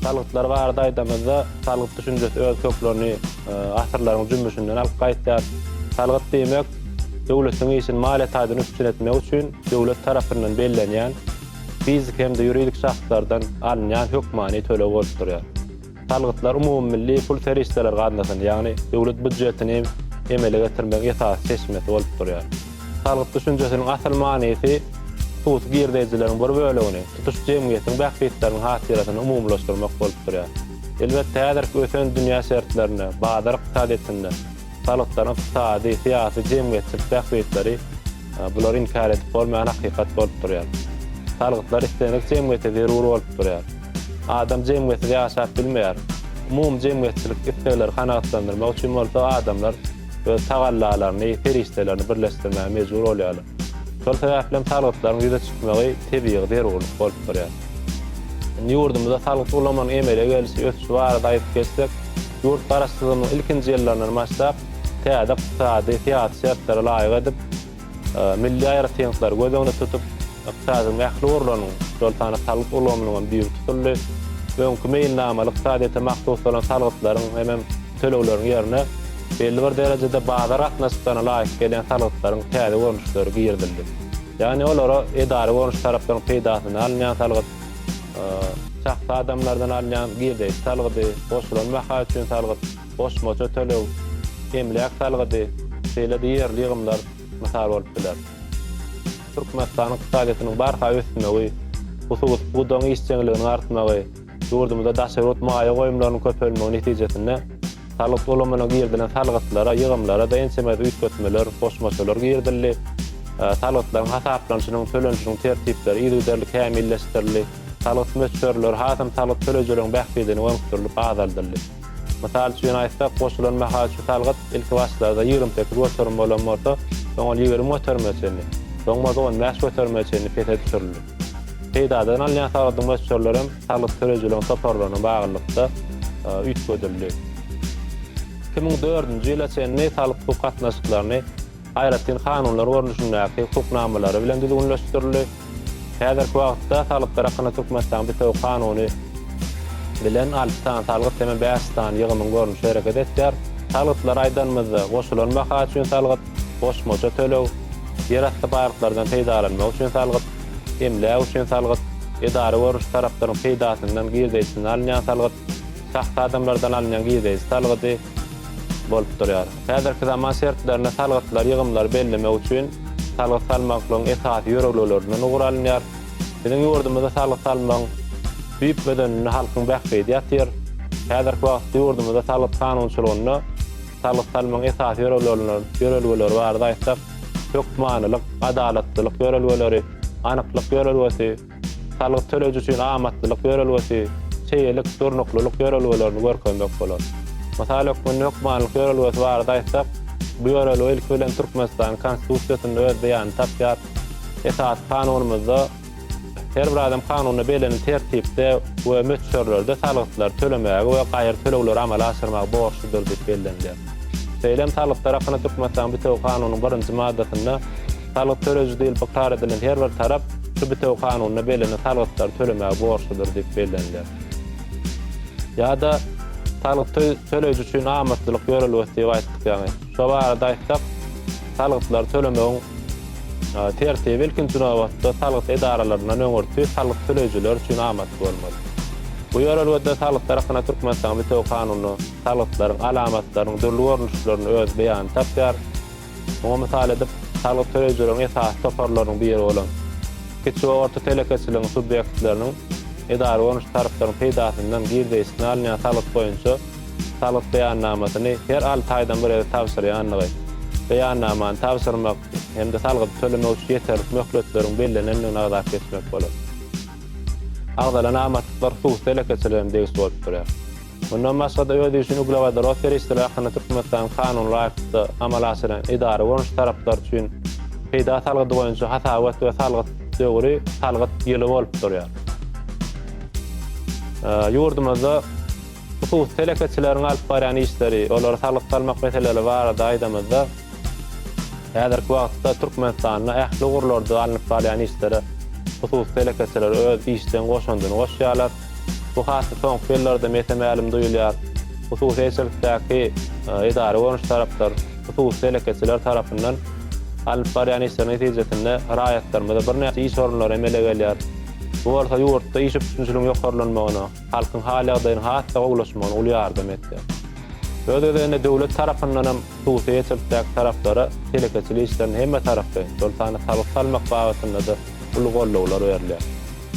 Salgytlar barada aýdamyzda, salgyt düşünjesi öz köklerini asyrlaryň jümmüşinden alyp gaýdýar. Salgyt diýmek, döwletiň işini maliýe taýdan üpjün etmek üçin döwlet tarapyndan bellenýän, fiziki hem-de ýuridik şahslardan alynýan hökmany töleg bolup durýar. Salgytlar umumymilli pul serişdeleri gaznasyny, ýagny döwlet býudjetini emele getirmegiň esasy çeşmesi bolup durýar. Salgyt düşünjesiniň asyl manysy hususy girdeýjileriň bir bölegini, tutuş jemgyýetiň bähbitleriniň hatyrasyna umumylaşdyrmak bolup durýar. Elbetde, häzirki ösen dünýä şertlerinde, bazar ykdysadyýetinde salgytlaryň ykdysady, syýasy, jemgyýetçilik bähbitleri bulary inkär edip bolmaýan hakykat bolup durýar. Salgytlar islendik jemgyýete zerur bolup durýar. Adam jemgyýetsiz ýaşap bilmeýär. Umumy jemgyýetçilik islegleri kanagatlandyrmak üçin bolsa adamlar, öz tagallalaryny, serişdelerini birleşdirmäge mejbur bolýarlar. Şol sebäplem salgytlaryň ýüze çykmagy tebigy zerurlyk bolup durýar. Indi ýurdumyzda salgyt ulamanyň emele gelişi, ösüşi barada aýdyp geçsek, ýurt Garaşsyzlygymyzyň ilkinji ýyllaryndan başlap, täze ykdysady, syýasy şertlere laýyk edip, Milli aýratynlyklary göz öňünde tutup, ykdysadyň ähli ugurlarynyň, şol sanda salgyt ulgamynyň hem düýbi tutuldy. Öňki meýilnamaly ykdysadyýete mahsus bolan salgytlaryň hemem tölegleriň ýerine belli bir derejede bazar gatnaşyklaryna laýyk gelýän salgytlaryň täze görnüşleri girizildi. Ýagny olara edara görnüşli taraplaryň peýdasyna alynýan salgyt, şahsy adamlardan alynýan girdeji salgydy, goşulan baha üçin salgyt, goşmaça töleg, emläk salgydy, şeýle-de ýerli ýygymlar mysal bolup biler. Türkmenistanyň ykdysadyýetiniň barha ösmegi, hususy pudagyň işjeňliginiň artmagy, ýurdumyzda daşary ýurt maýa goýumlarynyň köpelmegi netijesinde salgyt ulgamyna girizilen salgytlara, ýygymlara-da ençeme üýtgetmeler, goşmaçalar girizildi. Salgytlaryň hasaplanyşynyň, tölenişiniň tertipleri yzygiderli kämilleşdirildi. Salgyt möçberleri hasam salgyt töleýjileriň bähbidine gönükdirilip azaldyldy. Mysal üçin aýtsak, goşulan mahaçy salgyt ilki başlarda ýigrimi sekiz göterim bolan bolsa, soň ol ýigrimi göterime çenli, soň bolsa on bäş göterime çenli pese düşürildi. Peýdadan alynýan salgydyň möçberleri hem salgyt töleýjileriň toparlaryna baglylykda üýtgedildi. Iki müň dördünji ýyla çenli salgyt-hukuk gatnaşyklaryny aýratyn kanunlar görnüşindäki hukuk namalary bilen düzgünleşdirildi. Häzirki wagtda salgytlar hakynda Türkmenistanyň bitewi kanuny bilen alty sany salgyt hem-ä bäş sany ýygymyň görnüşi hereket etýär. Salgytlary aýdanymyzda, goşulan baha üçin salgyt, goşmaça töleg, ýerasty baýlyklardan peýdalanmak üçin salgyt, emläk üçin salgyt, edara görnüşli taraplaryň peýdasyndan girdeýjisinden alynýan salgyt, şahsy adamlardan alynýan girdeýji salgydy bolup durýar. Häzirki zaman şertlerinde salgytlar ýygymlary bellemek üçin salgyt salmaklygyň esasy ýörelgelerinden ugur alynýar. Biziň ýurdumyzda salgyt salmagyň düýp bedeninde halkyň bähbidi ýatyr. Häzirki wagtda ýurdumyzda salgyt kanunçylygynda salgyt salmagyň esasy ýörelgeleri barada aýtsak, hökmanylyk, adalatlylyk ýörelgeleri, anyklyk ýörelgesi, Salgyt töleýji üçin amatlylyk ýörelgesi, çeýelik, durnuklylyk ýörelgelerini görkezmek bolar. Mysal hökmünde hökmanylyk ýörelgesi barada aýtsak, bu ýörelge ilki bilen Türkmenistanyň Konstitusiýasynda öz beýanyny tapýar. Esasy Kanunymyzda her bir adam kanunda bellenen tertipde we möçberlerde salgytlary tölemäge we gaýry tölegleri amala aşyrmaga borçludyr diýip bellenilýär. Şeýle hem salgytlar hakynda Türkmenistanyň bitewi kanunynyň birinji maddasynda, Salgyt töleji diýlip ykrar edilen her bir tarap şu bitewi Kanunda bellenen salgytlary tölemäge borçludyr diýip belleniler. Ýa-da salgyty töleýji üçin amatlylyk ýörelgesi diýip aýtdyk ýaňy. Şu barada aýtsak, salgytlary tölemegiň tertibi ilkinji nobatda salgyt edaralaryndan öňürti salgyt töleýjiler üçin amatly bolmaly. Bu ýörelgede salgytlar hakynda Türkmenistanyň bitewi Kanuny salgytlaryň alamatlarynyň dürli görnüşlerini öz beýanyny tapýar. Muňa mysal edip, salgyt töleýjileriň esasy toparlarynyň biri bolan kiçi we orta telekeçiligiň subýektleriniň edara bolnuşly taraplaryň peýdasyndan girdeýisine alynýan salgyt boýunça salgyt beýannamasyny her alty aýdan bir gezek tabşyrýandygy, beýannamany tabşyrmak hem-de salgydy tölemek üçin ýeterlik möhletleriň bellenendigini agzap geçmek bolar. Agzalan amatlyklar hususy telekeçilere hem degişli bolup durýar. Mundan başga-da özi üçin uglewodorod serişdeleri hakynda Türkmenistanyň kanuny laýyklykda amala aşyrýan edara bolan taraplar üçin peýda salgydy boýunça hasabat we salgyt döwri salgyt ýyly bolup durýar. Ýurdumyzda hususy telekeçileriň alyp barýan işleri, olara salgyt salmak meseleleri barada aýdamyzda, Häzirki wagtda Türkmenistanda ähli ugurlarda alnyp barylýan işlere hususy telekeçiler öz işjeň goşandyny goşýarlar. Bu hasy soňky ýyllarda mese-mälim duýulýar. Hususy eýeçilikdäki edara görnüşli taraplar, hususy telekeçiler tarapyndan alnyp barýan işleriň netijesinde raýatlarymyza birnäçe iş orunlary emele gelýär. Bu bolsa ýurtda iş üpjünçiligiň ýokarlanmagyna, halkyň hal-ýagdaýynyň has-da gowulaşmagyna uly ýardam etýär. Öz gezeginde döwlet tarapyndan hem hususy eýeçilikdäki taraplara telekeçilik işlerinde hemmetaraplaýyn, şol sanda salgyt salmak babatynda-da uly goldawlar berilýär.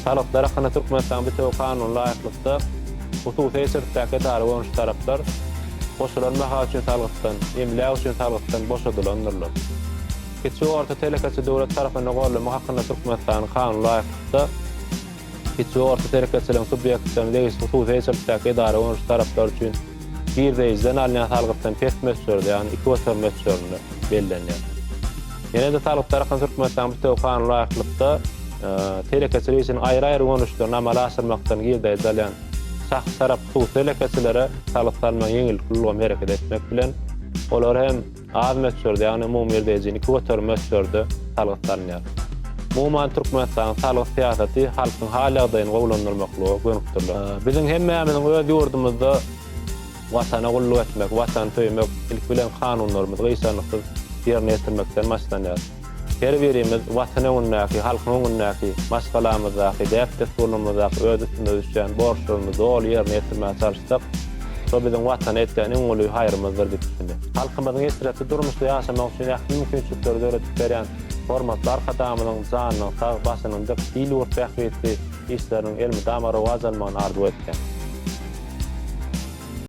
Salgytlar hakynda Türkmenistanyň bitewi kanunyna laýyklykda, hususy eýeçilikdäki edara bolan şu taraplar goşulan baha üçin salgytdan, emläk üçin salgytdan boşadylandyrlar. Kiçi we orta telekeçi döwlet tarapynda goldama hakynda Türkmenistanyň kanunyna laýyklykda, kiçi we orta telekeçiligiň subýektleriniň degişli hususy eýeçilikdäki edara gönüdişli taraplary üçin girdeýjiden alynýan salgytdan pes möçberde, ýagny iki göterim möçberinde bellenýär. Ýene-de salgyt tarapyndan Türkmenistanyň bitewi kanuny laýyklykda telekeçilik işiniň aýry-aýry gönüdişlerini amala aşyrmakdan girdeýji alýan şahsy tarap hususy telekeçilere salgyt salmagyň ýeňillikli ulgamy hereket etmek bilen, olara hem Az möçberde, ýagny umumy girdejini iki göterim möçberde salgytlanýar. Umuman, Türkmenistanyň salgyt syýasaty halkyň hal-ýagdaýyny gowulandyrmaklyga gönükdirilen. Biziň hemmämiziň öz ýurdumyzda Watana gulluk etmek, Watany söýmek ilki bilen kanunlarymyzy gyşarnyksyz ýerine ýetirmekden başlanýar. Her birimiz Watan öňündäki, halkyň öňündäki, maşgalamyzdaky, däp-dessurlarymyzdaky öz üstümize düşýän borçlarymyzy doly ýerine ýetirmäge çalyşsak, şo biziň Watana etýän iň uly haýrymyzdyr diýip düşündi. Halkymyzyň eşretli durmuşda ýaşamagy üçin ähli mümkinçilikleri döredip berýän hormatly Arkadagymyzyň janynyň sag, başynyň dik, il-ýurt bähbitli işleriniň elmydama rowaç almagyny arzuw etýäris.